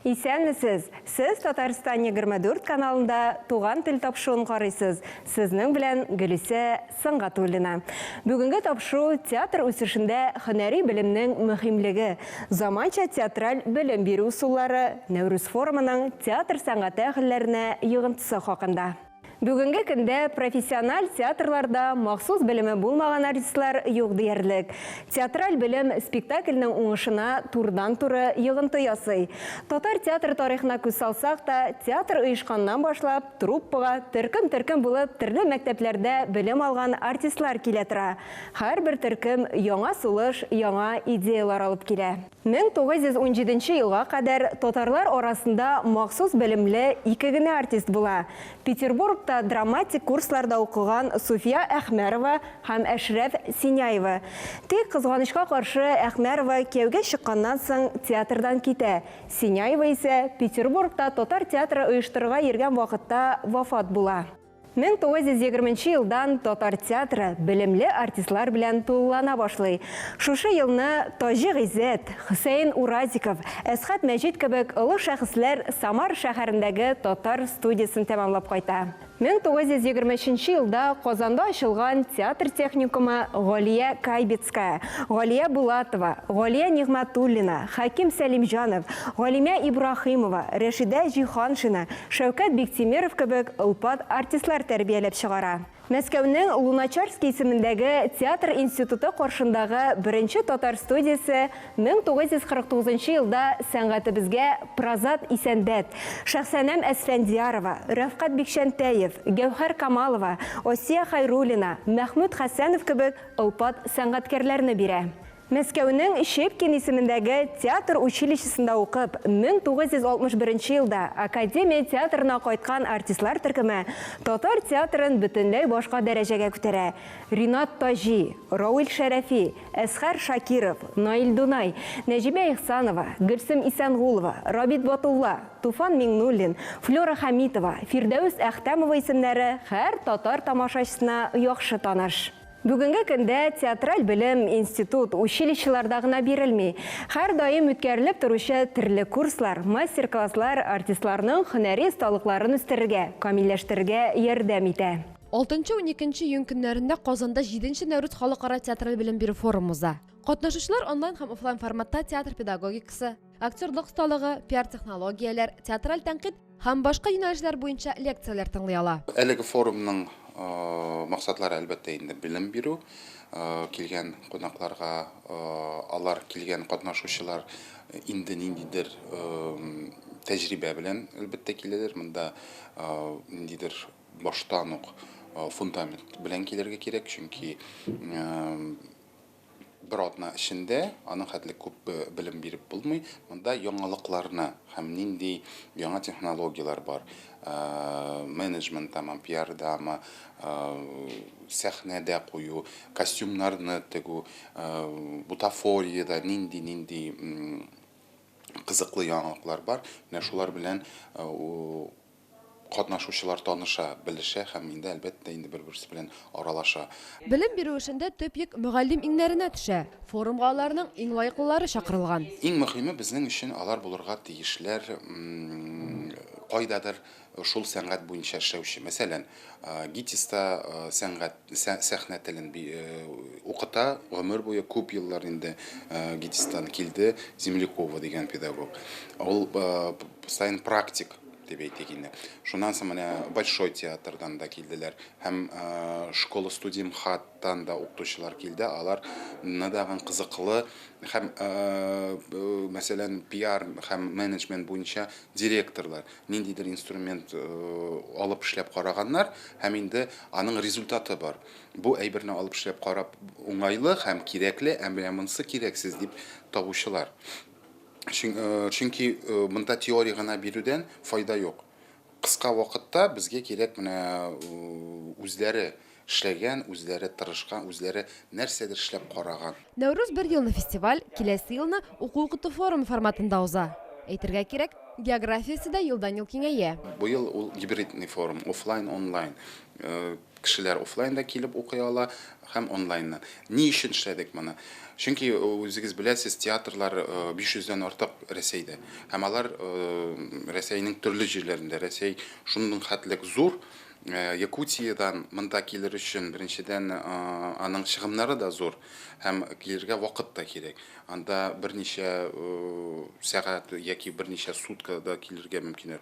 Исәнмесез! Сез Татарстан егерме дүрт каналында Туган тел тапшуын карыйсыз. Сезнең белән Гөлисә Сангатуллина. Бүгенге тапшу театр үсешендә һөнәри белемнең мөһимлеге, заманча театраль белем бирү ысуллары, Нәүрүз форумының театр сәнгате әһелләренә йогынтысы хакында. Бүгенге көндә профессиональ театрларда махсус белеме булмаган артистлар юк диярлек. Театраль белем спектакльнең уңышына турыдан-туры йогынты ясый. Татар театр тарихына күз салсак та, театр оешканнан башлап, труппага төркем-төркем булып төрле мәктәпләрдә белем алган артистлар килә тора. Һәрбер төркем яңа сулыш, яңа идеялар алып килә. Мең тугыз йөз унҗиденче елга кадәр татарлар арасында махсус белемле ике генә артист була, Петербургта драматик курсларда укыган Суфия Әхмәрова һәм Әшрәф Синяева. Тик, кызганычка каршы, Әхмәрова кияүгә чыкканнан соң театрдан китә, Синяева исә Петербургта татар театры оештырырга йөргән вакытта вафат була. 1920 нче елдан татар театры белемле артистлар белән тулылана башлый. Шушы елны Таҗи Гыйззәт, Хөсәен Уразиков, Әсхат Мәҗит кебек олы шәхесләр Самар шәһәрендәге татар студиясен тәмамлап кайта. 1923 нче елда Казанда ачылган театр техникумы Галия Кайбицкая, Галия Булатова, Галия Нигъмәтуллина, Хәким Сәлимҗанов, Галимә Ибраһимова, Рәшидә Җиһаншина, Шәүкәт Биктимеров кебек олпат артистлар тәрбияләп чыгара. Мәскәүнең Луначарский исемендәге театр институты каршындагы беренче татар студиясе 1949 нчы елда сәнгатебезгә Празат Исәнбәт, Шәхсәнәм Әсфәндиярова, Рәфкать Бикчәнтәев, Гәүһәр Камалова, Асия Хайруллина, Мәхмүт Хәсәнов кебек олпат сәнгатькәрләрне бирә. Мәскәүнең Щепкин исемендәге театр училищесында укып, 1961 нче елда академия театрына кайткан артистлар төркеме татар театрын бөтенләй башка дәрәҗәгә күтәрә. Ринат Таҗи, Равил Шәрәфи, Әсхәр Шакиров, Наил Дунай, Нәҗибә Ихсанова, Гөлсем Исәнгулова, Рабит Батулла, Туфан Миңнуллин, Флера Хәмитова, Фирдәүс Әхтәмова исемнәре һәр татар тамашачысына яхшы таныш. Бүгенге көндә театраль белем институт, училищеларда гына бирелми. Һәрдаим үткәрелеп торучы төрле курслар, мастер-класслар артистларның һөнәри осталыкларын үстерергә, камилләштерергә ярдәм итә. Алтынчы-уникенче июнь көннәрендә Казанда Җиденче Нәүрүз халыкара театраль белем бирү форумы уза. Катнашучылар онлайн һәм офлайн форматта театр педагогикасы, актерлык осталыгы, пиар-технологияләр, театраль тәнкыйть һәм башка юнәлешләр буенча лекцияләр тыңлый ала. Әлеге форумның максатлары, әлбәттә, инде белем бирү, килгән кунакларга алар килгән катнашучылар инде ниндидер тәҗрибә белән, әлбәттә, киләләр. Монда ниндидер баштан ук фундамент белән килергә кирәк, чөнки Бер атна эчендә аның хәтле күп белем биреп булмый. Монда яңалыкларны һәм нинди яңа технологияләр бар, менеджментамы, пиардамы, сәхнәдә кую, костюмнарны тегү, бутафориядә нинди-нинди кызыклы яңалыклар бар, менә шулар белән Катнашучылар таныша, белешә һәм инде, әлбәттә, инде бер-берсе белән аралаша. Белем бирү эшендә төп йөк мөгаллим иңнәренә төшә. Форумга аларның иң лаеклылары чакырылган. Иң мөхиме, безнең өчен алар булырга тиешләр кайдадыр шул сәнгать буенча эшләүче. Мәсәлән. ГИТИСта сәнгать, сәхнә телен укыта, гомер буе күп еллар инде ГИТИСтан килде Землякова дигән педагог. Ул сайын практик дип әйтик инде. Шуннан соң менә Большой театрдан да килделәр һәм школа студия МХАТтан да укытучылар килде. Алар надаган кызыклы һәм мәсәлән пиар һәм менеджмент буенча директорлар. ниндидер инструмент алып эшләп караганнар һәм инде аның результаты бар. Бу әйберне алып эшләп карап уңайлы һәм кирәкле, ә менә монысы кирәксез дип табучылар. Чөнки монда теория гына бирүдән файда юк. Кыска вакытта безгә кирәк менә үзләре Эшләгән, үзләре тырышкан, үзләре нәрсәдер эшләп караган. Нәүрүз бер елны фестиваль, киләсе елны уку-укыту форумы форматында уза. Әйтергә кирәк, географиясе дә елдан-ел киңәя. Быел ул гибридный форум, офлайн, онлайн. Кешеләр офлайн да килеп укый ала һәм онлайннан. Ни өчен эшләдек моны? Чөнки үзегез беләсез, театрлар 500 дән артык Рәсәйдә. Һәм алар Рәсәйнең төрле җирләрендә. Рәсәй шундый хәтлек зур. Э, Якутиядән монда килер өчен беренчедән э, аның чыгымнары да зур һәм килергә вакыт та кирәк. Анда берничә э, сәгать яки берничә суткада килергә мөмкин.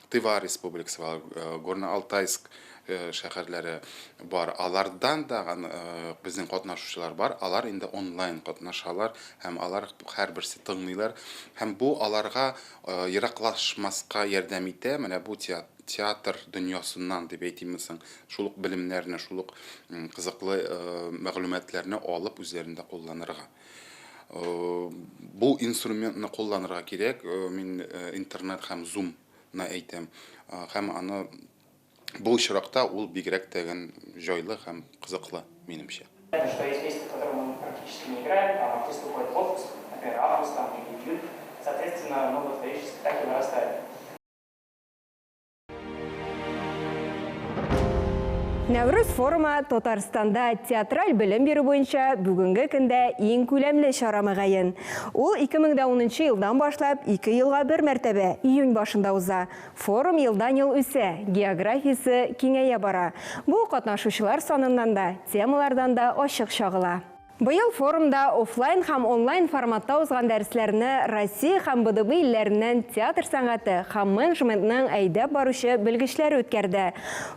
Тыва республикасы бар, Горно-Алтайск шәһәрләре бар. Алардан да безнең катнашучылар бар. Алар инде онлайн катнашалар һәм алар һәрберсе тыңлыйлар һәм бу аларга ераклашмаска ярдәм итә. Менә бу театр театр дөньясыннан дип әйтимме соң, шул ук белемнәрне, шул ук кызыклы мәгълүматларны алып үзләрендә кулланырга. Бу инструментны кулланырга кирәк, мин интернет һәм Zoom на әйтәм. Һәм аны бу очракта ул бигрәк тә гән җайлы һәм кызыклы, минемчә. Это что есть месяцы, в которые мы практически не играем, там артисты уходят в отпуск, например, август там или июль, соответственно, ну вот периодически так и вырастает. Нәврүз форумы Татарстанда театраль белем бирү буенча бүгенге көндә иң күләмле чара мөгаен. Ул 2010 елдан башлап 2 елга бер мәртәбә июнь башында уза. Форум елдан-ел үсә, географиясе киңәя бара. Бу катнашучылар саныннан да, темалардан да ачык чагыла. Быел форумда офлайн һәм онлайн форматта узган дәресләрне Россия һәм БДБ илләреннән театр сәнгате һәм менеджментның әйдәп баручы белгечләре үткәрде.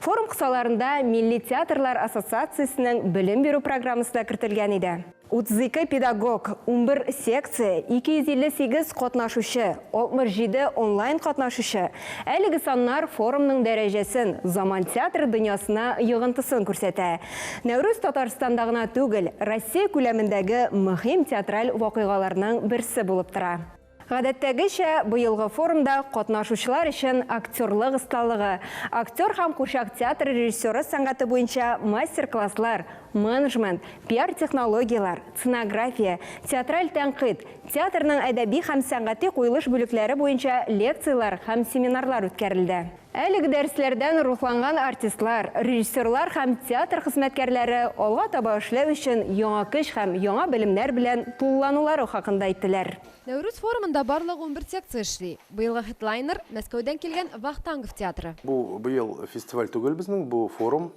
Форум кысаларында Милли театрлар ассоциациясенең белем бирү программасы да кертелгән иде. 32 педагог, унбер секция, 258 катнашучы, 67 онлайн катнашучы, әлеге саннар форумның дәрәҗәсен, заман театры дөньясына йогынтысын күрсәтә. Нәүрүз Татарстанда гына түгел, Россия күләмендәге мөһим театраль вакыйгаларның берсе булып тора. Гадәттәгечә, быелгы форумда катнашучылар өчен актерлык осталыгы, актер һәм курчак театры режиссеры сәнгате буенча мастер-класслар, менжмент, пиар-технологияләр, ценография, театраль тәнкыйть, театрның әдәби һәм сәнгати куелыш бүлекләре буенча лекцияләр һәм семинарлар үткәрелде. Әлеге дәресләрдән рухланган артистлар, режиссерлар һәм театр хезмәткәрләре алга таба эшләү өчен яңа көч һәм яңа белемнәр белән тулыланулары хакында әйттеләр. Нәүрүз форумында барлыгы унбер секция эшли. Быелгы хедлайнер, Мәскәүдән килгән Вахтангов театры. Бу быел фестиваль түгел безнең, бу форум.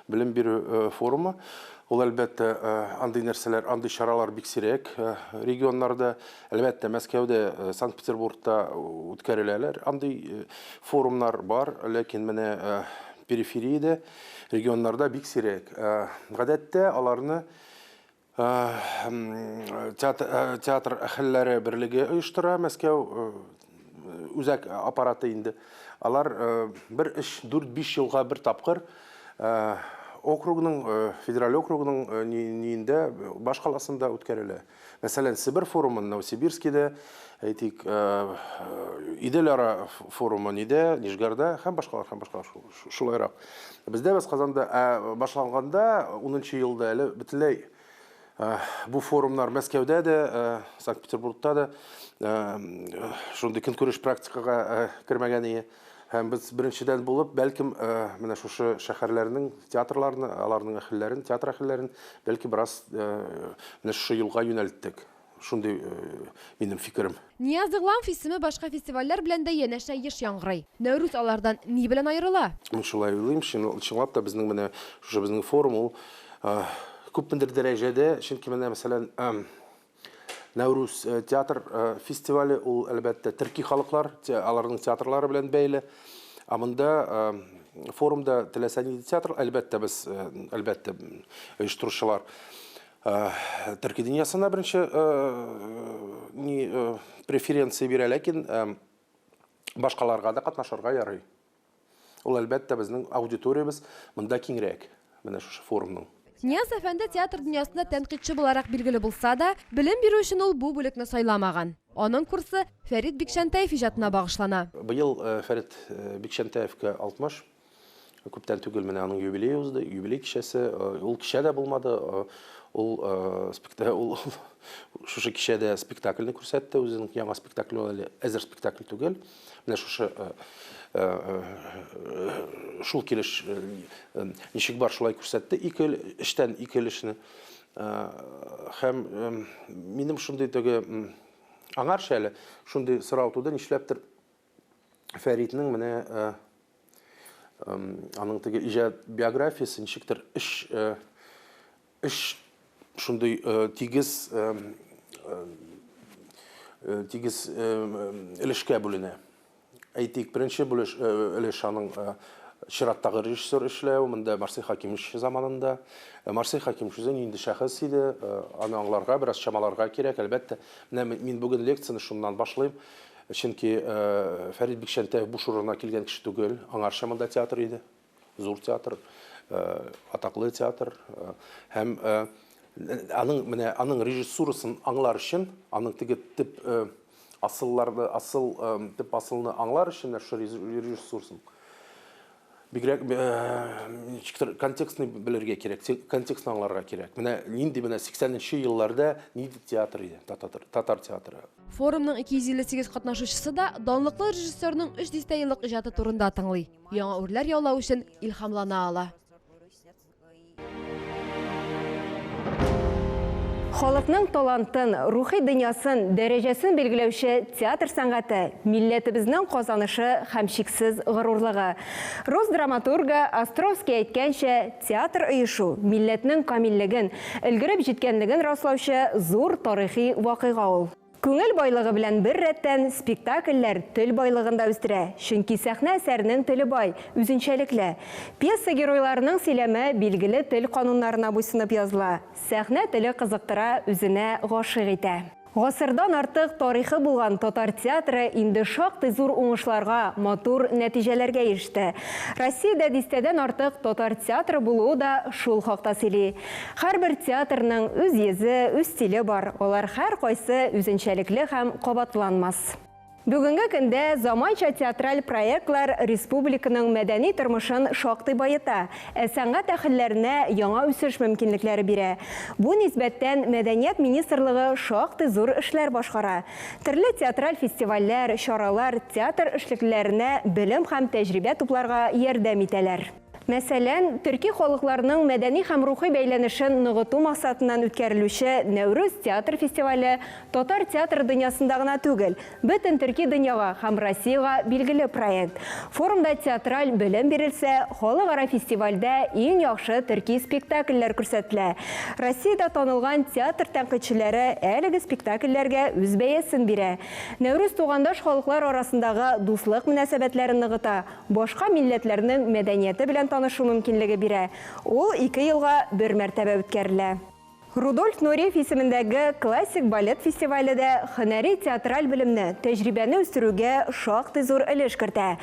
Белем бирү форумы, ул әлбәттә андый нәрсәләр, андый чаралар бик сирәк регионнарда, әлбәттә Мәскәүдә, Санкт-Петербургта үткәреләләр андый форумнар бар, ләкин менә перифериядә, регионнарда бик сирәк. Гадәттә аларны Театр әхелләре берлеге оештыра, Мәскәү үзәк аппараты инде. Алар бер эш 4-5 елга бер тапкыр округның, федераль округның ниендә, башкаласында үткәрелә. Мәсәлән, Себер форумын Новосибирскида, әйтик, Иделара форумы нидә, Нижгарда һәм башкалар, һәм башкалар Шулайрак. Бездә без Казанда ә, башланганда, унынчы елда әле бөтенләй бу форумнар Мәскәүдә дә, Санкт-Петербургта да шундый көнкүреш практикага кермәгән ие. Һәм без беренчедән булып, бәлкем, менә шушы шәһәрләрнең театрларны, аларның әһелләрен, театр әһелләрен бәлки бераз менә шушы юлга юнәлттек. Шундый минем фикерем. Нияз Игламов исеме башка фестивальләр белән дә янәшә еш яңгырый. Нәүрүз алардан ни белән аерыла? Мин шулай уйлыйм, чынлап та безнең менә шушы безнең форум ул күпмедер дәрәҗәдә, чөнки менә мәсәлән Нәүрүз театр фестивале ул әлбәттә төрки халыклар, аларның театрлары белән бәйле. Ә монда форумда теләсә нинди театр, әлбәттә без, әлбәттә оештыручылар. Төрки дөньясына беренче ни преференция бирә, ләкин башкаларга да катнашырга ярый. Ул әлбәттә безнең аудиториябез монда киңрәк, менә шушы форумның. Нияз әфәнде театр дөньясында тәнкыйтьче буларак билгеле булса да, белем бирү өчен ул бу бүлекне сайламаган. Аның курсы Фәрит Бикчәнтәев иҗатына багышлана. Быел Фәрит Бикчәнтәевка 60. Күптән түгел менә аның юбилее узды, юбилей кичәсе. Ул кичә дә булмады. Ул спектакль ул шушы кичәдә спектакльне күрсәтте, үзенең яңа спектакле ул әле әзер спектакль түгел. Менә шушы шул килеш ничек бар шулай күрсәтте. Ике эштән ике эшне. Һәм минем шундый теге аңарча әле шундый сорау туды, нишләптер Фәритнең менә э, э, аның теге иҗат биографиясе ничектер эш э, эш шундый э, тигез э, э, э тигез э, өлешкә бүленә. Әйтик, беренче бүлеш э, өлеш аның э, чираттагы режиссер эшләү, монда Марсель Хакимович заманында. Э, Марсель Хакимович үзе нинди шәхес иде, э, аны аңларга, бераз чамаларга кирәк, әлбәттә. Менә мин бүген лекцияне шуннан башлыйм. Чөнки Фәрит Бикчәнтәев буш урынга килгән кеше түгел, аңарча монда театр иде. Зур театр, атаклы театр һәм аның менә аның режиссурасын аңлар өчен, аның теге тип асылларды, асыл тип асылны аңлар өчен шул режиссурасын Бигрәк ничектер контекстны белергә кирәк, контекстны аңларга кирәк. Менә нинди менә 80 нче елларда нинди театр иде, татар, татар театры. Форумның 258 катнашучысы да данлыклы режиссерның өч дистә еллык иҗаты турында тыңлый, яңа үрләр яулау өчен илһамлана ала. Халыкның талантын, рухи дөньясын, дәрәҗәсен билгеләүче театр сәнгате, милләтебезнең казанышы һәм чиксез горурлыгы. Рус драматургы Островский әйткәнчә, театр оешу, милләтнең камиллеген, өлгереп җиткәнлеген раслаучы зур тарихи вакыйга ул. Күңел байлыгы белән бер рәттән, спектакльләр тел байлыгын да үстерә, чөнки сәхнә әсәренең теле бай, үзенчәлекле. Пьеса геройларының сөйләме билгеле тел кануннарына буйсынып языла. Сәхнә теле кызыктыра, үзенә гашыйк итә. Гасырдан артык тарихы булган татар театры инде шактый зур уңышларга, матур нәтиҗәләргә иреште. Россиядә дистәдән артык татар театры булуы да шул хакта сөйли. Һәрбер театрның үз йөзе, үз стиле бар, алар һәркайсы үзенчәлекле һәм кабатланмас. Бүгенге көндә заманча театраль проектлар республиканың мәдәни тормышын шактый баета, ә сәнгать әһелләренә яңа үсеш мөмкинлекләре бирә. Бу нисбәттән Мәдәният министрлыгы шактый зур эшләр башкара. Төрле театраль фестивальләр, чаралар театр эшлеклеләренә белем һәм тәҗрибә тупларга ярдәм итәләр. Мәсәлән, төрки халыкларның мәдәни һәм рухи бәйләнешен ныгыту максатыннан үткәрелүче Нәүрүз театр фестивале татар театры дөньясында гына түгел, бөтен төрки дөньяга һәм Россиягә билгеле проект. Форумда театраль белем бирелсә, халыкара фестивальдә иң яхшы төрки спектакльләр күрсәтелә. Россиядә танылган театр тәнкыйтьчеләре әлеге спектакльләргә үз бәясен бирә. Нәүрүз тугандаш халыклар арасындагы дуслык мөнәсәбәтләрен ныгыта, башка милләтләрнең мәдәнияте белән танышу мөмкинлеге бирә, ул ике елга бер мәртәбә үткәрелә. Рудольф Нуриев исемендәге Классик балет фестивале дә һөнәри театраль белемне, тәҗрибәне үстерүгә шактый зур өлеш кертә.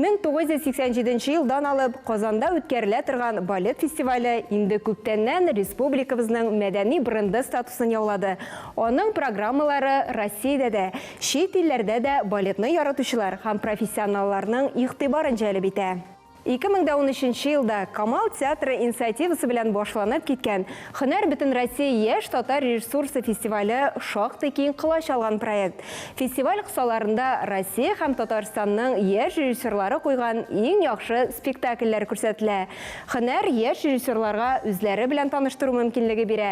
1987 нче елдан алып Казанда үткәрелә торган балет фестивале инде күптәннән республикабызның мәдәни бренды статусын яулады, аның программалары Россиядә дә, Чит илләрдә дә балетны яратучылар һәм профессионалларның игътибарын җәлеп итә. Ике мең дә унөченче елда Камал театры инициативасы белән башланып киткән Һөнәр Бөтенроссия яшь татар режиссурасы фестивале шактый киң колач алган проект. Фестиваль кысаларында Россия һәм Татарстанның яшь режиссерлары куйган иң яхшы спектакльләр күрсәтелә. Һөнәр яшь режиссерларга үзләре белән таныштыру мөмкинлеге бирә,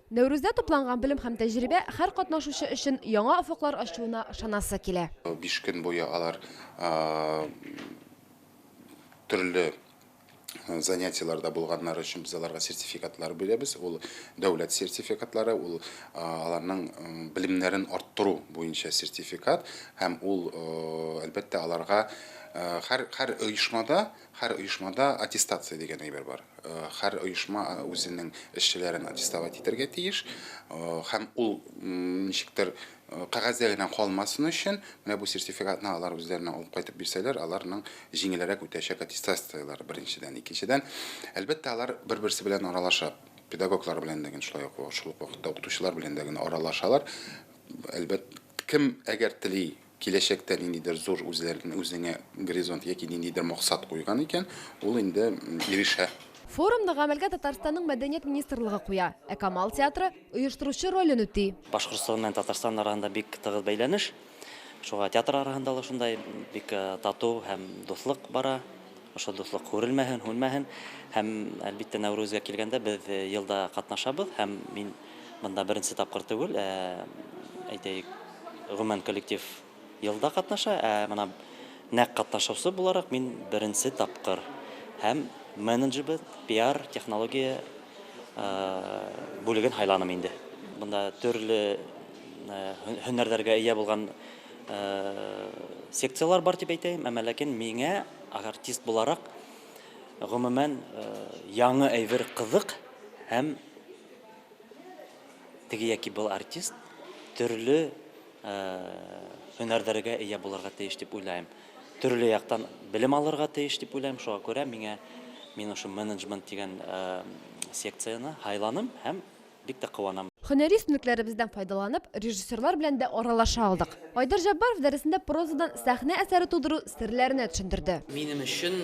Нәүрүздә тупланган белем һәм тәҗрибә һәр катнашучы өчен яңа офыклар ачуына ышанасы килә. Биш көн буе алар төрле занятиеләрдә булганнары өчен без аларга сертификатлар бирәбез. Ул дәүләт сертификатлары, ул аларның белемнәрен арттыру буенча сертификат һәм ул, әлбәттә, аларга һәр оешмада Һәр оешмада аттестация дигән әйбер бар. Һәр оешма үзенең эшчеләрен аттестовать итәргә тиеш. Һәм ул ничектер кәгазьдә генә калмасын өчен, менә бу сертификатны алар үзләренә алып кайтып бирсәләр, аларның җиңелрәк үтәчәк аттестацияләре, беренчедән. Икенчедән, әлбәттә, алар бер-берсе белән аралаша. Педагоглар белән дә генә шулай ук, шул ук вакытта укытучылар белән дә генә аралашалар. Әлбәт, кем әгәр тели, Киләчәктә ниндидер зур үзләрен үзеңә горизонт яки ниндидер максат куйган икән, ул инде ирешә. Форумны гамәлгә Татарстанның мәдәният министрлыгы куя, ә Камал театры оештыручы ролен үти. Башкортстан белән Татарстан арагында бик тыгыз бәйләнеш. Шуңа театр арагында ла шундай бик тату һәм дуслык бара. Ошо дуслык һүрелмәһен, һүнмәһен. Һәм, әлбиттә, Нәүрүзгә килгәндә, без елда катнашабыз һәм мин. Монда беренче тапкыр түгел, ә, әйтәек, гомумән коллектив елда катнаша, ә менә нәкъ катнашучы буларак мин беренче тапкыр. Һәм менеджебы пиар технология э, бүлеген һайланым инде. Монда төрле э, һөнәрләргә ия булган э, секцияләр бар дип әйтәем, әмма ләкин миңа артист буларак гомумән яңа әйбер кызык һәм Теге яки был артист төрле һөнәрләргә ия булырга тиеш дип уйлайм. Төрле яктан белем алырга тиеш дип уйлайм. Шуңа күрә миңа мин ошо менеджмент дигән секцияне һайланым һәм бик тә куанам. Һөнәри өстенлекләребездән файдаланып, режиссерлар белән дә аралаша алдык. Айдар Җаббаров дәресендә прозадан сәхнә әсәре тудыру серләренә төшендерде. Минем өчен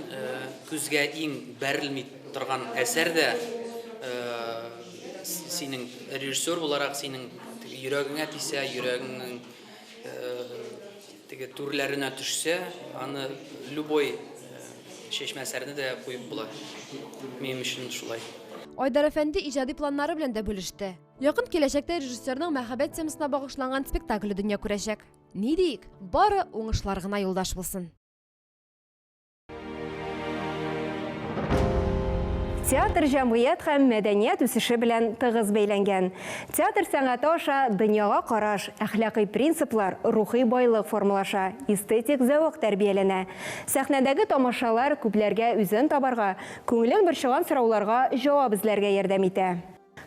күзгә иң бәрелми торган әсәр дә синең режиссер буларак синең йөрәгеңә тисә, йөрәгеңнең теге түрләренә төшсә, аны любой чәчмә әсәрне дә куеп була. Минем өчен шулай. Айдар әфәнде иҗади планнары белән дә бүлеште. Якын киләчәктә режиссерның мәхәббәт темасына багышланган спектакле дөнья күрәчәк. Ни диик, бары уңышлар гына юлдаш булсын! Театр җәмгыять һәм мәдәният үсеше белән тыгыз бәйләнгән. Театр сәнгате аша дөньяга караш, әхлакый принциплар, рухи байлык формалаша, эстетик зәвык тәрбияләнә. Сәхнәдәге тамашалар күпләргә үзен табарга, күңелен борчыган сорауларга җавап эзләргә ярдәм итә.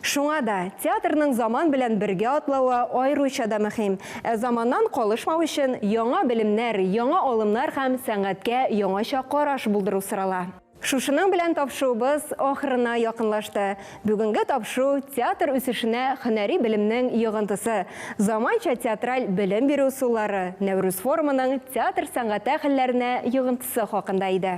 Шуңа да театрның заман белән бергә атлавы аеруча да мөһим. Ә заманнан калышмау өчен яңа белемнәр, яңа алымнар һәм сәнгатькә яңача караш булдыру сорала. Шушының белән тапшуыбыз ахырына якынлашты. Бүгенге тапшу театр үсешенә һөнәри белемнең йогынтысы, заманча театраль белем бирү ысуллары, Нәүрүз форумының театр сәнгате әһелләренә йогынтысы хакында иде.